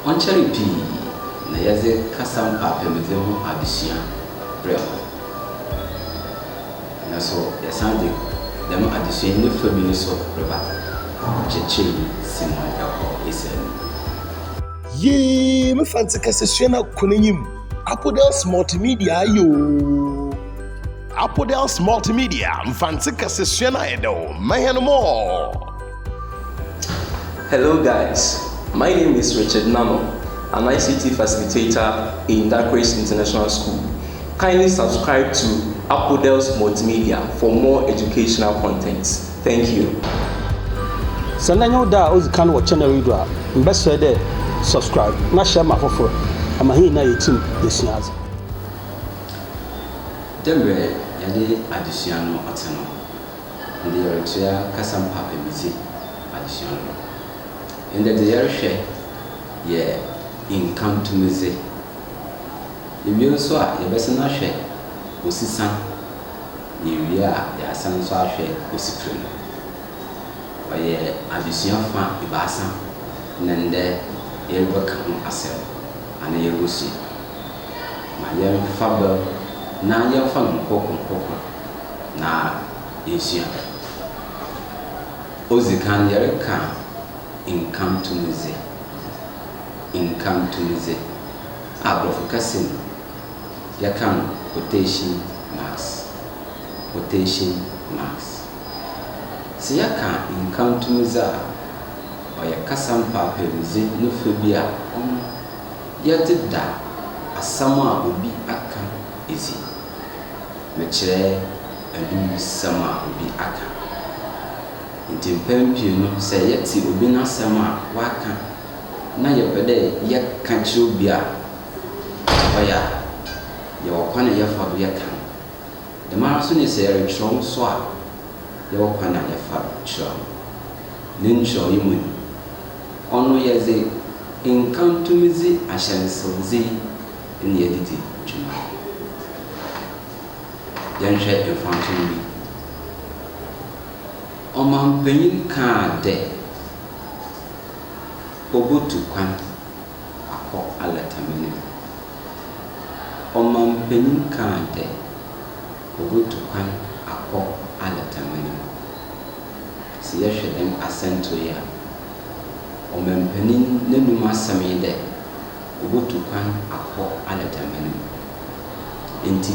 Ɔnnkyɛree pii na yɛdze kasa mpaapamudze ho adesua brɛɛ hɔn. Nna so yɛsan dze dɛm adesua yi ne fa bi no so reba, Ɔkyerɛkyerɛnyi Simon kɔ Israel no mu. Yee me Fantse kasasua na kɔ n'enyim Apodels Multimedia aye oo. Apodels Multimedia Mfantse kasasua no ayɛ dɛw, mma hɛn more. Hello guys, my name is Richard Nano, an ICT facilitator in Dakeres International School. Kindly subscribe to Apodels Multimedia for more educational content. Thank you. Sɛ ndɛ nye wo da a odzi kan wɔ channel yi do a, mebɛserɛ dɛ subscribe na share ma afofor ama hɛn nyina yeetsim yesua adze. Dɛ mbrɛ yɛdze adzesua no ɔtse no. ndɛ yɛretsea kasa mu apɛmudzi adzesua no do. Ndɛ dze yɛrohwɛ yɛ income tumdzi. Ewie so a yɛbɛsan ahwɛ osisa, na ewie a yɛasan so ahwɛ osipir no. Ɔyɛ adzesua fa ebiasa na ndɛ yɛrebɛka ho asɛm anaa yerubosua. Ma yɛmfa ber na yɛmfa no nkɔkor nkɔkor. na yesua. Odzi kan, yɛrekã nkã tumdzi, nkã tumdzi a Borɔfo kasa mu yɛkã no quotation marks, quotation marks. Sɛ yɛkã nkã tumdzi a, ɔyɛ kasa mpaapaemudze no fã bi a ɔno yɛdze da asɛm a obi akã, edzi. Mekyerɛ aduyisɛm a obi aka. Ntsi mpɛn pii no, sɛ yɛtse obi n'asɛm a ɔaka na yɛpɛ dɛ yɛka kyerɛ obi a, dza ɔyɛ a, yɛwɔ kwan a yɛfa do yɛka no. Dɛmara so na sɛ yɛrekyerɛw no so a, yɛwɔ kwan a yɛfa do kyerɛw no. Ne nkyerɛwee mu no, ɔno yɛdze nkantomdzi ahyɛnsewdze yi. ne adidi dwuma. Yɛnhwɛ mfatoho bi. Ɔmampanyin kãa dɛ obotu kwan akɔ alɛtame no mu. Ɔmampanyin kãa dɛ obotu kwan akɔ alɛtame no mu. Sɛ yɛhwɛ dɛm asɛntow yi a, ɔmampanyin n'enum asɛm nye dɛ. obotu kwan akɔ anadamma no mu. Ntsi,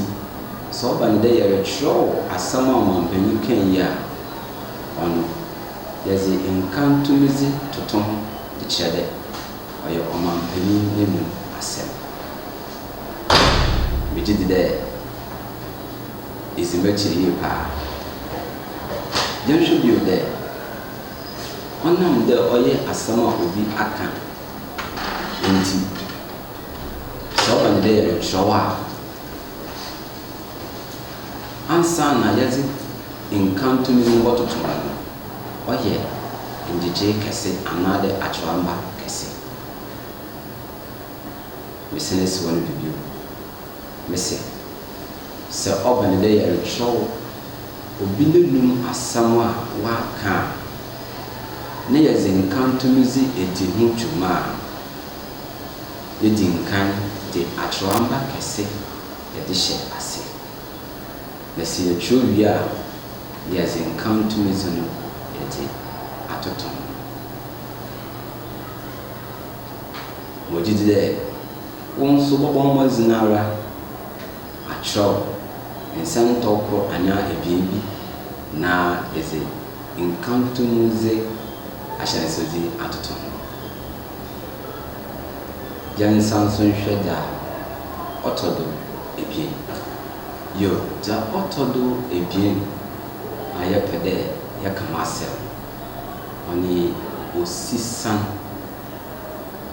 sɛ ɔba no dɛ yɛrekyerɛw asɛm a ɔmampanyin kãe yi a, ɔno, yɛdze nkan tumidzi toto ho dze kyerɛ dɛ ɔyɛ ɔmampanyin n'enum asɛm. Megye dzi dɛ idzi m'ekyir yie paa. Yɛnhwɛ bio dɛ, ɔnam dɛ ɔyɛ asɛm a obi akã Enti, sɛ ɔba no dɛ yɛrekyerɛw a, ansaana yɛdze nkanto no mu bɔtoto hɔ no, ɔyɛ ngyegyee kɛse anaadɛ akyerɛwamba kɛse. Mesan si hɔ no do bio, mese. Sɛ ɔba no dɛ yɛrekyerɛw obi n'enum asɛm a ɔakã a, na yɛdze nkãto no dzi edzi ho dwuma a, yedzi nkan dze akyerɛwamba kɛse yɛdze hyɛ ase, na sɛ yɛkyerɛw wie a, na yɛdze nkãto no dze no yɛdze atoto ho. Megye dzi dɛ Wo nso bɔbɔ mmɔdzen ara akyerɛw nsɛntɔw kor anaa ebien bi na edze nkãtõ mu dze ahyɛnsewdze atoto ho. Gya ne nsa nso nhwɛ dza ɔtɔ do ebien. Yo, dza ɔtɔ do ebien a yɛpɛ dɛ yɛkã ho asɛm no, ɔnye osisan.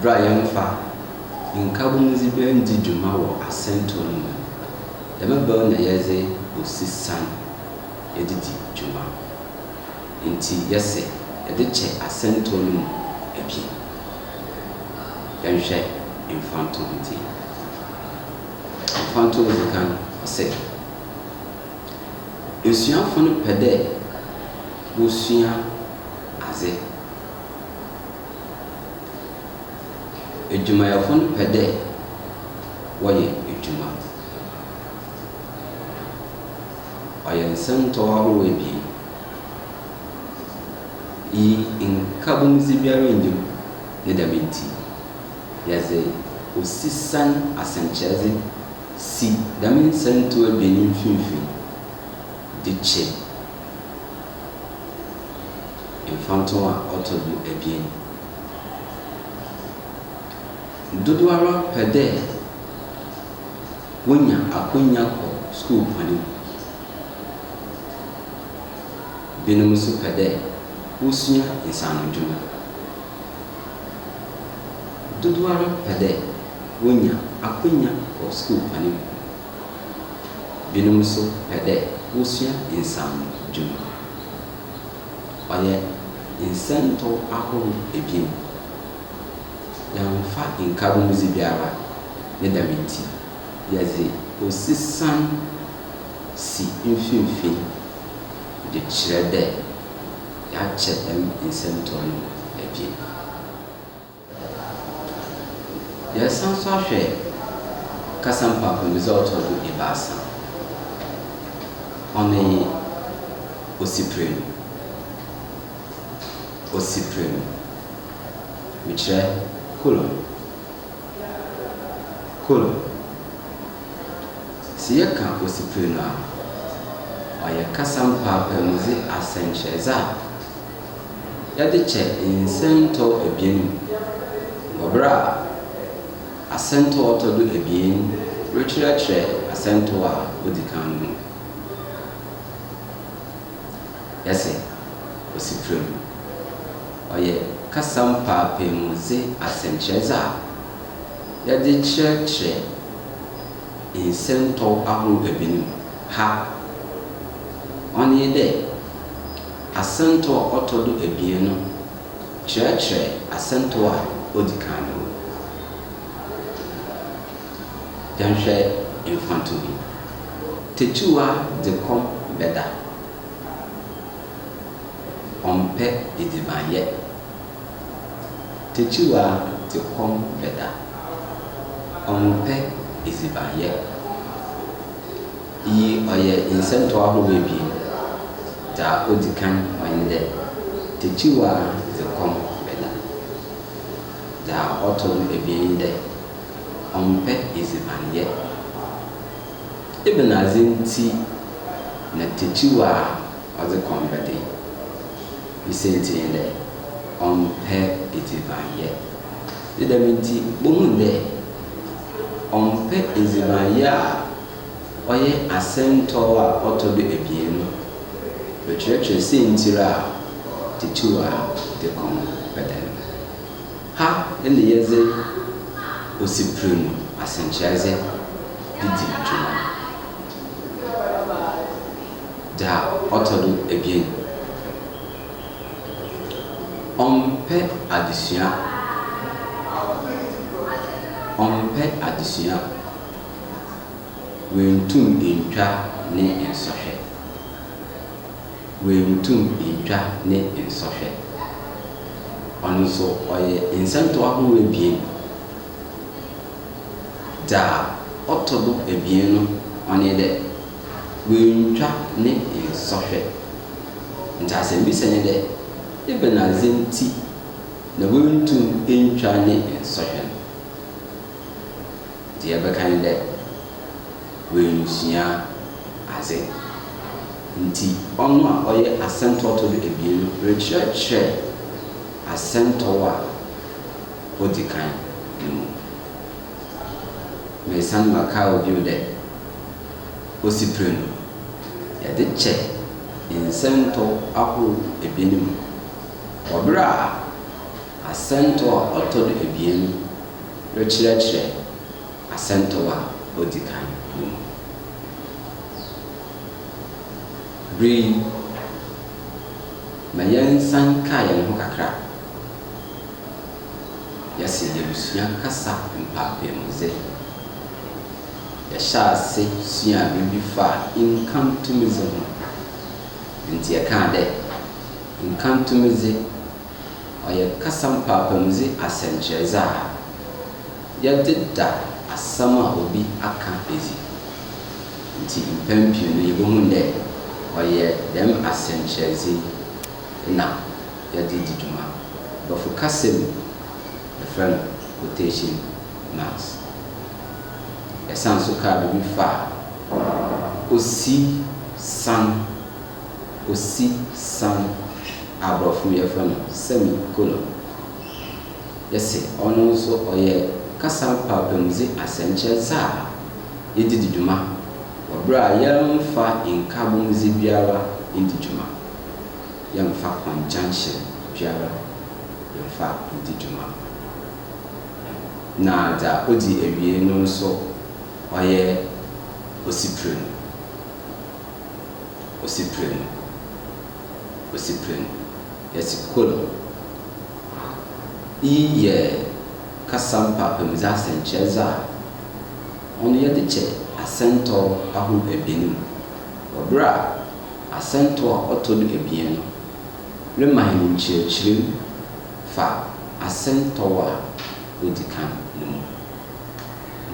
Bra yɛmfa nkabomdzi bɛn ndzi dwuma wɔ asɛntɔw no mu. Dɛm bɛn na yɛdze osi san yɛdze dzi dwuma. Ntsi yɛse yɛdze kyɛ asɛntɔw no mu bi. Yɛnhwɛ mfantowdzi. Mfantowdzi kan ɔse. Esuafo no pɛ dɛ wosua adze. Edwumayɛfo no pɛ dɛ wɔyɛ edwuma. Ɔyɛ nsɛmtɔw ahorow ebien yi, nkabomdzi biara nnyi mu. Ne dɛm ntsi, yɛdze osisan asɛnkyerɛdze Si dɛm nsɛntsɛw ebien yi mfinimfin de kyɛ mfatoho a ɔtɔ do ebien. Dodowara pɛ dɛ wonya akwanya kɔ skuulkwan mu. Binom so pɛ dɛ wosua nsaanodwuma. Dodowara pɛ dɛ wonya akwanya wɔ skuulkwan mu. Binom so pɛ dɛ wosua nsaanodwuma. Ɔyɛ nsɛntɔw ahorow ebien. Yɛammfa nkabɔmudze biara, ne dɛm ntsi yɛdze osisan si mfinimfin dze kyerɛ dɛ. Yɛakyɛ dɛm nsɛntɔw no ebien. Yɛresan so ahwɛ kasa mpaapaemudze a ɔtɔ do ebiasa. Hɔn nye Osiprenu. Osiprenu, mekyerɛ, colon. Kor. Sɛ yɛkã osipir no a, ɔyɛ kasa mpaapaamudze asɛnkyerɛdze a yɛdze kyɛ nsɛntɔw ebien mu wɔ ber a asɛntɔw a ɔtɔ do ebien rekyerɛkyerɛ asɛntɔw a odzi kan no mu. yɛ sɛ osi prɛgow. Ɔyɛ kasa mpaapaaemudze asɛnkyerɛdze a yɛdze kyerɛkyerɛ nsɛntɔw ahorow ebien mu ha. Ɔno nye dɛ, asɛntɔw a ɔtɔ do ebien no kyerɛkyerɛ asɛntɔw a odzi kan no mu. Yɛnhwɛ mfatoho bi. Tetuwa de kɔm bɛda. Ɔmpɛ edzibanyɛ. Tetuwa de kɔm bɛda. Ɔmpɛ edzibanyɛ. Iyi ɔyɛ nsɛntɔw ahorow ebien. Dza odzi kan nye dɛ, tetuwa de kɔm bɛda. Dza ɔtɔ do ebien nye dɛ. ɔmmpɛ edzibanyɛ. Ebɛnadze ntsi na tekyiwa a ɔdze kɔm bɛda yi? Ne siantsir nye dɛ, ɔmmpɛ edzibanyɛ. Ne dɛm ntsi, bohun dɛ ɔmmpɛ edzibanyɛ a ɔyɛ asɛntɔw a ɔtɔ do ebien no rekyerɛkyerɛ siantsir a tekyiwa dze kɔm bɛda no. Ha na yɛdze osiper mu asɛnkyerɛdze dzi dwuma. Dza ɔtɔ do ebien, ɔmmpɛ adzesua, ɔmmpɛ adzesua, oenntum enntwa ne nsɔhwɛ. oenntum enntwa ne nsɔhwɛ. Ɔno so ɔyɛ nsɛntɔw ahorow ebien. Dza ɔtɔ do ebien no, ɔnye dɛ, oenntwa ne nsɔhwɛ. Ntsi asɛmbisa nye dɛ, ebɛnadze ntsi na oenntum enntwa ne nsɔhwɛ no? Dza yɛbɛka nye dɛ, oennsua adze. Ntsi ɔno a ɔyɛ asɛntɔwto do ebien no rekyerɛkyerɛ asɛntɔw a odzi kan no mu. Meresan makaa wo bio dɛ, osiprenu, yɛdze kyɛ nsɛntɔw ahorow ebien mu wɔ ber a asɛntɔw a ɔtɔ do ebien no rekyerɛkyerɛ. Asɛntɔw a odzi kan no mu. Ber yi, ma yɛnsan nkaa hɛnho kakra yɛse yerusua kasa mpaapaamudzee. Yɛhyɛɛ ase suaa biribi faa nkantomdze ho. Ntsi yɛkaa dɛ, Nkantomdze. ɔyɛ kasa mpaapamudzi asɛnkyerɛdze a yɛdze da asɛm a obi akã edzi. Ntsi mpɛn pii no yebohun dɛ ɔyɛ dɛm asɛnkyerɛdze yi na yɛdze dzi dwuma. Borɔfo kasa mu yɛfrɛ no quotation marks. Yɛsan so kaa biribi faa osi san. Osi san, a aborɔfo no yɛfrɛ no semi colon, yɛ se ɔno nso ɔyɛ kasa mpaapaamudze asɛnkyerɛdze a yɛdze dzi dwuma wɔ ber a yɛmmfa nkabomdze biara nndzi dwuma, yɛmmfa conjunction biara mmfa nndzi dwuma, na dza odzi ewiei no nso ɔyɛ Osi Prenu. osi pire no, osi pire no, yɛse ko no. Iyi yɛ kasa mpaapamudze asɛnkyerɛdze a ɔno yɛdze kyɛ asɛntɔw ahorow ebien mu wɔ ber a asɛntɔw a ɔtɔ do ebien no rema hɛn nkyerɛkyerɛ mu fa asɛntɔw a odzi kan no mu.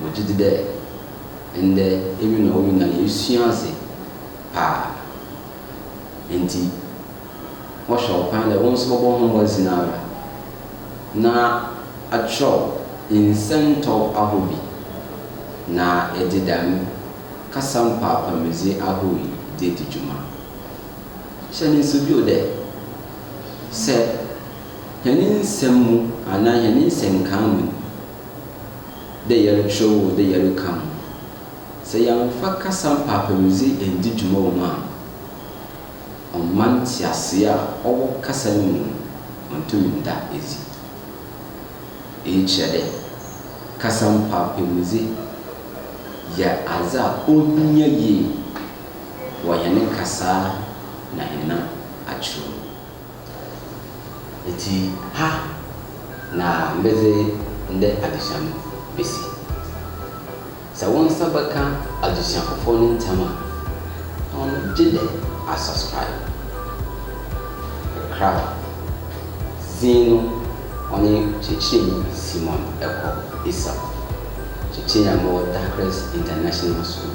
Wɔgye dzi dɛ Ndɛ emi na wo nyina yeesua adze paa. Ntsi mɔhwɛ wo kwan dɛ wo so bɔbɔ ho mbɔdzen ara na akyerɛw nsɛntɔw ahorow bi na edze dɛm kasa mpaapamudze ahorow yi dze edzi dwuma. Hyɛ no nsew bio dɛ, sɛ hɛn nsɛm mu anaa hɛn nsɛnkaa mu no, dɛ yɛrokyerɛw o, dɛ yɛrekã o, sɛ yɛammfa kasa mpaapaemudzi enndzi dwuma wɔ mu a, ɔmma ntseasee a ɔwɔ kasa no mu no onntum nnda edzi. Iyi kyerɛ dɛ, kasa mpaapaemudzi yɛ adze a ohia yie wɔ hɛn kasaa na hɛn akyerɛw mu. Ntsi ha na medze ndɛ adzesua no besi. Sɛ wo nsa bɛka adzesua fofor no ntsɛm a, hom no gyedɛ asubscribe. Krab dzin no ɔnye kyerɛkyerɛnyi Simon Ekor Esau, kyerɛkyerɛnyi a mowɔ Dakres International School.